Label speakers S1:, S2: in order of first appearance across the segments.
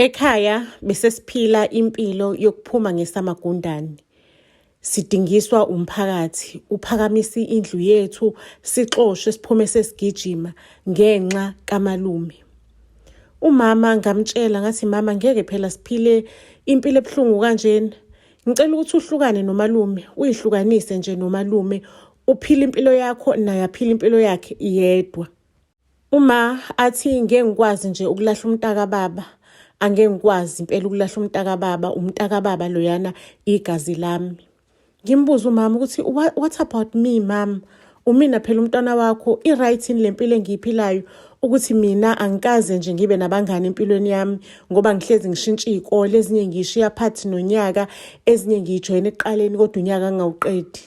S1: Ekhaya besesiphila impilo yokuphuma ngesamagundane. Sidingiswa umphakathi, uphakamisa indlu yethu, sixoshwe siphume sesigijima ngenxa kamalume. Umama ngamtshela ngathi mama ngeke phela siphile impilo ebuhlungu kanjena. Ngicela ukuthi uhlukane nomalume, uyihlukanise nje nomalume, uphile impilo yakho naye aphile impilo yakhe yedwa. Uma athi ngeke ngikwazi nje ukulahla umntaka baba angeke ngikwazi impela ukulahla umntaka baba umntaka baba loyana igazi lami ngimbuza umama ukuthi what about me mama umina phela umntwana wakho i-right yini le mpilo engiyiphilayo ukuthi mina angikaze nje ngibe nabangani empilweni yami ngoba ngihlezi ngishintsha iy'kole ezinye ngiyishiya phathi nonyaka ezinye ngiyijoyina ekuqaleni kodwa unyaka ngingawuqedi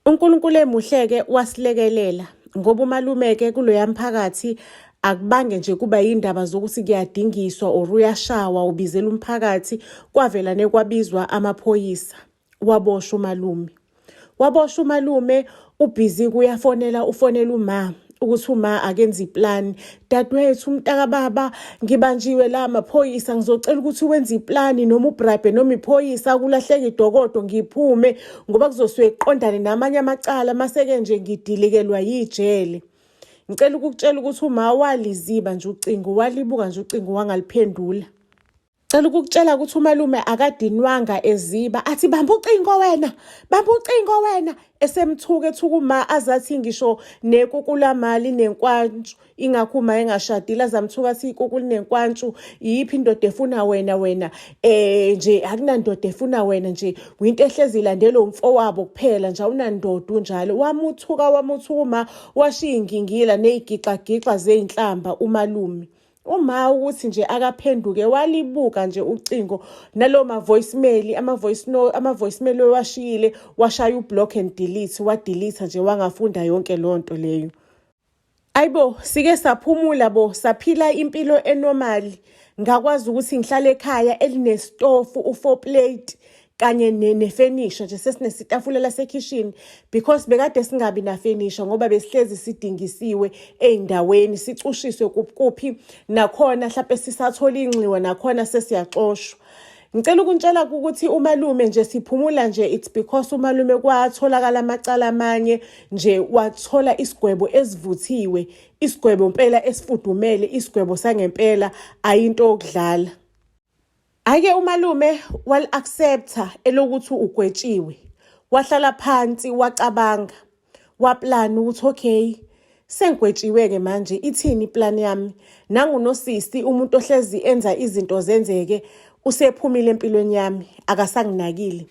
S1: UNkulunkulu emuhleke wasilekelela ngoba umalumeke kuloya mphakathi akubange nje kuba yindaba zokuthi kuyadingiswa or uyashawa ubizela umphakathi kwavela nekwabizwa amaphoyisa waboshwa umalume waboshwa umalume ubhizi kuyafonela ufonela uma ukuthi uma akenza iplan dadewethu umntakababa ngibanjiwe la maphoyisa ngizocela ukuthi wenze iplani noma ubrabhe noma iphoyisa kulahleka idokodo ngiphume ngoba kuzosuke kuqondane namanye amacala maseke nje ngidilikelwa yijele ngicela ukukutshela ukuthi uma waliziba nje ucingo walibuka nje ucingo wangaliphendula Cela ukukutshela ukuthi umalume akadinwanga eziba athi bamba ucingo wena bamba ucingo wena esemthuka ethuka uma azathi ngisho nekukulamali nenkwantshu ingakho uma engashadile azamthuka athi ikukuli nenkwantshu yiphi indoda efuna wena wena eh nje akunandoda efuna wena nje winto ehlezi ilandela umfowabo kuphela nje awunandoda unjalo wamuthuka wamuthuka uma washiya ingingila nezigixa gixa zeinhlamba umalume uma ukuthi nje akaphenduke walibuka nje ucingo nalo ma voicemail ama voice no ama voicemail washiyile washaya ublock and delete wa delete nje wangafunda yonke lonto leyo ayibo sike saphumula bo saphila impilo enormal ngakwazi ukuthi ngihlale ekhaya elinestofu u4 plate kanye nefenisha nje sesinesitafula lasekhishini because bekade singabi nafenisha ngoba besihlezi sidingisiwe ey'ndaweni sicushiswe kuphi nakhona mhlawumpe sisathola inxiwa nakhona sesiyaxoshwa ngicela ukuntshela ukuthi umalume nje siphumula nje it's because umalume kwatholakala amacala amanye nje wathola isigwebo esivuthiwe isigwebo mpela esifudumele isigwebo sangempela ayinto okudlala Ake umalume wali-accepta elokuthi ugwetshiwe. Wahlala phansi wacabanga. Waplan ukuthi okay sengigwetshiwe-ke manje ithini iplan yami. Nangunosisi umuntu ohlezi enza izinto zenzeke usephumile empilweni yami akasanginakile.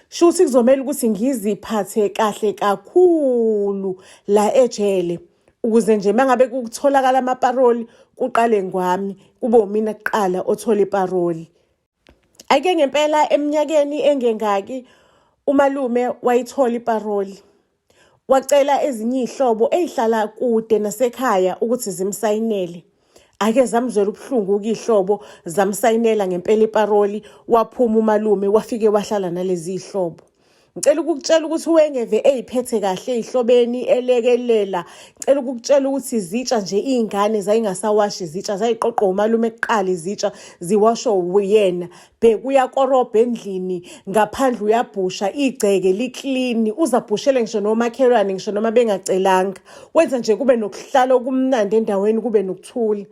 S1: shuthi kuzomele ukuthi ngiziphathe kahle kakhulu la ejele ukuze nje mangabe kutholakala amaparoli kuqale ngwami kube umina kuqala othola iparoli ake ngempela eminyakeni engengaki umalume wayithola iparoli Wacela ezinye iy'hlobo ey'hlala kude nasekhaya ukuthi zimsayinele. Ake zamzwela ubuhlungu ukuyihlobo zamsayinela ngempela iparoli waphuma umalume wafike wahlala nalezi zihlobo. Ngicela ukukutshela ukuthi uwengeve eyiphethe kahle ezihlobeni elekelela. Ngicela ukukutshela ukuthi izitsha nje izingane zayingasawashi izitsha zayiqoqwa umalume kuqala izitsha ziwashwa uyena. bheka uyakorobha endlini ngaphandle uyabhusha igceke liklini uzabhushele ngisho nomakhelwane ngisho noma bengacelanga wenza nje kube nokuhlala okumnandi endaweni kube nokuthula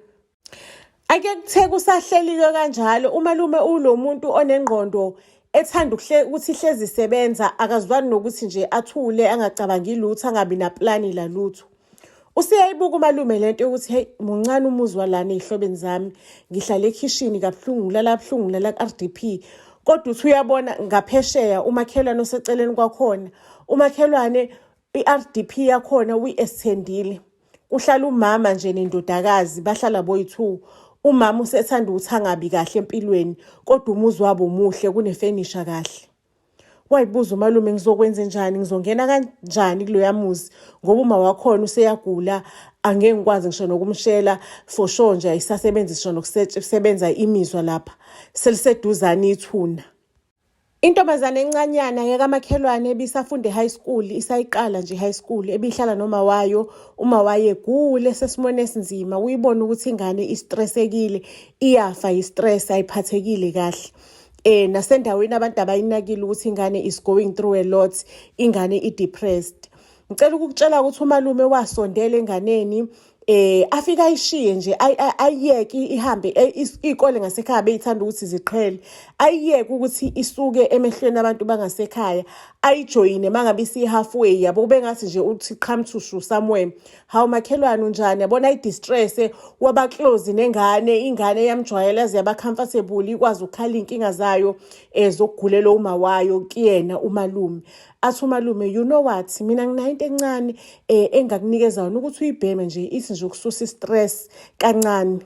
S1: ake kutheke usahlelike kanjalo umalume ulo muntu onengqondo ethanda ukuthi ihlezi isebenza akazwani nokuthi nje athule angacabangi lutho angabi naplani lalutho useyayibuka umalume le nto yokuthi heyi muncane umuzi walana ey'hlobeni zami ngihlale ekhishini kabuhlungu ngilala kabuhlungu ngilala ku-r d p kodwa uthi uyabona ngaphesheya umakhelwane oseceleni kwakhona umakhelwane i-r d p yakhona uyi-esthendile kuhlala umama nje nendodakazi bahlala boyi-two umama usethanda ukuthi angabi kahle empilweni kodwa umuzi wabo muhle kunefenisha kahle wayibuza umalume ngizokwenze njani ngizongena kanjani kuloya muzi ngoba uma wakhona useyagula angeke ngikwazi ngisho nokumshela for sure nje ayisasebenzi sisho nokusebenza imizwa lapha seliseduzane ithuna Intombazane encanyana yekamakhelwane ebisafunde high school isayiqala nje high school ebihlala noma wayo uma waye gule sesimone esinzima uyibona ukuthi ingane istressekile iyafa istress ayiphathekile kahle eh nasendaweni abantu abayinakile ukuthi ingane is going through a lot ingane i depressed ngicela ukukutshela ukuthi umalume wasondela enganeni eh afika ayishiye nje ayiyeke ihambe eh, ikole ngasekhaya beyithanda ukuthi ziqhele ayiyeke ukuthi isuke emehlweni abantu bangasekhaya ayijoyine mangabe isihalfway yabo kube ngathi nje uthi qhamthushu somewhere hawu makhelwane unjani yabona i-distress wabaklozi nengane ingane yamjwayela ziyaba comfortable ikwazi ukukhala iy'nkinga zayo um zokugulelwa uma wayo kuyena umalume athi umalume you know what mina nginayinto encane um engakunikeza yona ukuthi uyibheme nje ithi nje ukususa i-stress kancane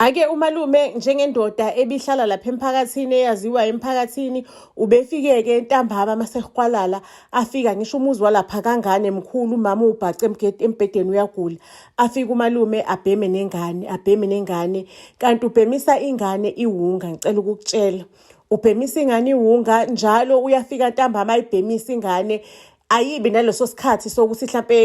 S1: Ake umalume njengendoda ebihlala lapha emphakathini eyaziwa emphakathini ubefike-ke ntambama masehwalala afika ngisho umuzi walapha kangane mkhulu umama ubhace embhedeni uyagula afike umalume abheme nengane abheme nengane kanti ubhemisa ingane iwunga ngicela ukukutshela ubhemisa ingane iwunga njalo uyafika ntambama ayibhemisa ingane ayibi naleso sikhathi sokuthi mhlampe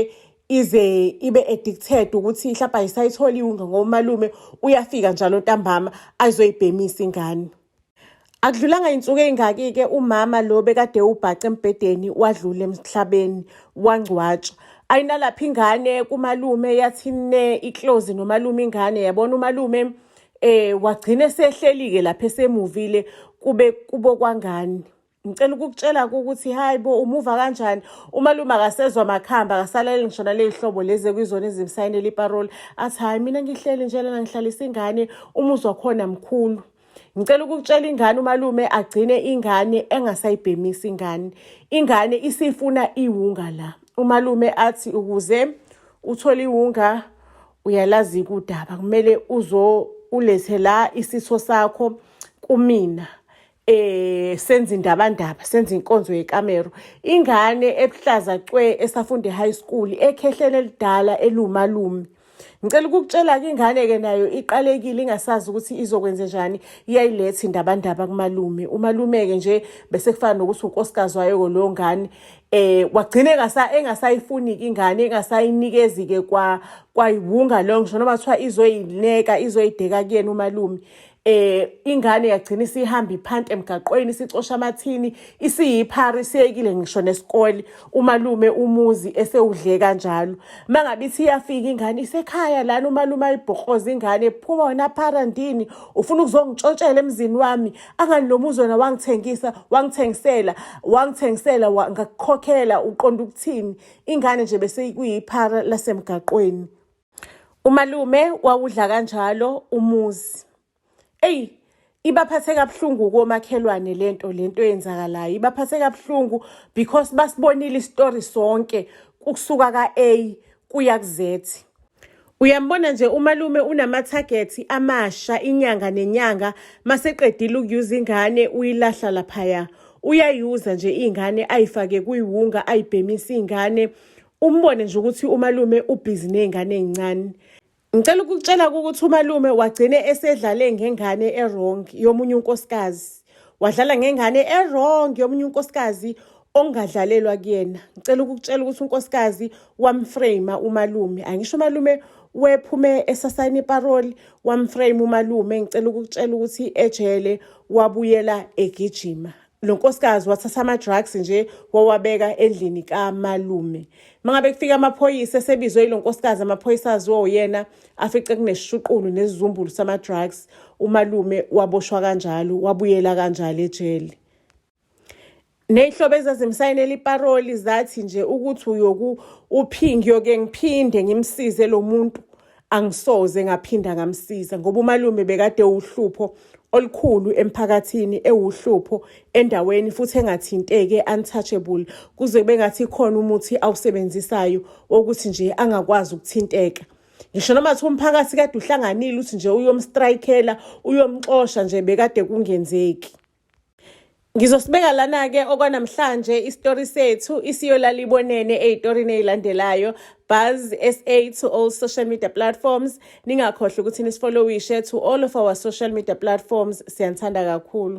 S1: ize ibe addicted ukuthi hlapa ayisayitholi iwunga ngomalume uyafika njalo ntambama azoyibhemisa ingane Akudlulanga insuku ezingaki ke umama lo bekade ubhaca embhedeni wadlula emhlabeni wangcwatshwa. Ayinalapha ingane kumalume yathi ne iclose nomalume ingane yabona umalume eh wagcina esehlelike lapha esemuvile kube kubo kwangani. ngicela ukukutshela ukuthi hayi bo umuva kanjani umalume akasezwa makhamba akasalele ngisho naley'hlobo lezi ekuyizona ezimsayinela iparoli athi hhayi mina ngihleli nje lana ngihlalisa ingane umuzi wakhona mkhulu ngicela ukukutshela ingane umalume agcine ingane engasayibhemisi ingane ingane isifuna iwunga la umalume athi ukuze uthole iwunga uyalazi kudaba kumele uzo ulethe la isitho sakho kumina eh senza indabandaba senza inkonzo yekamero ingane ebuhlaza cwe esafunde high school ekhehlele lidala elumalume ngicela ukukutshela ke ingane ke nayo iqalekile ingasazi ukuthi izokwenze njani iyayiletha indabandaba kumalume umalume ke nje bese kufana nokuthi unkosikazi wayo ko lo ngane eh wagcine ngasa engasayifuni ingane engasayinikezi ke kwa kwayiwunga lo ngisho noma kuthiwa izoyineka izoyideka kuyena umalume eh ingane yagcina isihamba iphanta emgaqweni isicosha amathini isiyiphara isiyekile ngisho nesikole umalume umuzi esewudle kanjalo mangabe ithi iyafika ingane isekhaya lana umalume ayibhokoza ingane phuma wena phara ndini ufuna ukuzongitshontshela emzini wami angani lo muzi wena wangithengisa wangithengisela wangithengisela ngakukhokhela uqonda ukuthini ingane nje bese kuyiphara lasemgaqweni umalume wawudla kanjalo umuzi eyi ibaphathe kabuhlungu komakhelwane lento lento eyenzakalayo ibaphathe kabuhlungu because basibonile istory sonke ukusuka ka-a kuya ku-z uyambona nje umalume unamathagethi amasha inyanga nenyanga maseqedile ukuyuza ingane uyilahla laphaya uyayuza nje iy'ngane ayifake kuyiwunga ayibhemisa iy'ngane umbone nje ukuthi umalume ubhizi nezingane ezincane ngicela ukukutshela ukuthi umalume wagcine esedlale ngengane erong yomunye unkosikazi wadlala ngengane erong yomunye unkosikazi ongadlalelwa kuyena ngicela ukukutshela ukuthi unkosikazi wamframe umalume angisho umalume wephume esasayina iparoli wamframe umalume ngicela ukukutshela ukuthi ejele wabuyela egijima lo nkosikazi wathatha ama-drugs nje wawabeka endlini kamalume mangabe kufika amaphoyisa esebizwe yilo nkosikazi amaphoyisa aziwa uyena afice kunesishuqulu nesizumbulu sama-drugs umalume waboshwa kanjalo wabuyela kanjalo ejele ney'hlobo ezazimsayinela iparoli zathi nje ukuthi uyoku uphingi yoke ngiphinde ngimsize lo muntu angisoze ngaphinda ngamsiza ngoba umalume bekade uhlupho olukhulu emphakathini ewuhlupho endaweni futhi engathinteke untouchable kuze kube ngathi khona umuthi awusebenzisayo wokuthi nje angakwazi ukuthinteka ngisho noma kuthiwa umphakathi kade uhlanganile uthi nje uyomstrikela uyomxosha nje bekade kungenzeki Ngizosibeka lana-ke okwanamhlanje isitori sethu isiyolalibonene ey'torini ey'landelayo buzz sa to all social media platforms ningakhohlwa ukuthi nisifolowishe to all of our social media platforms siyanithanda kakhulu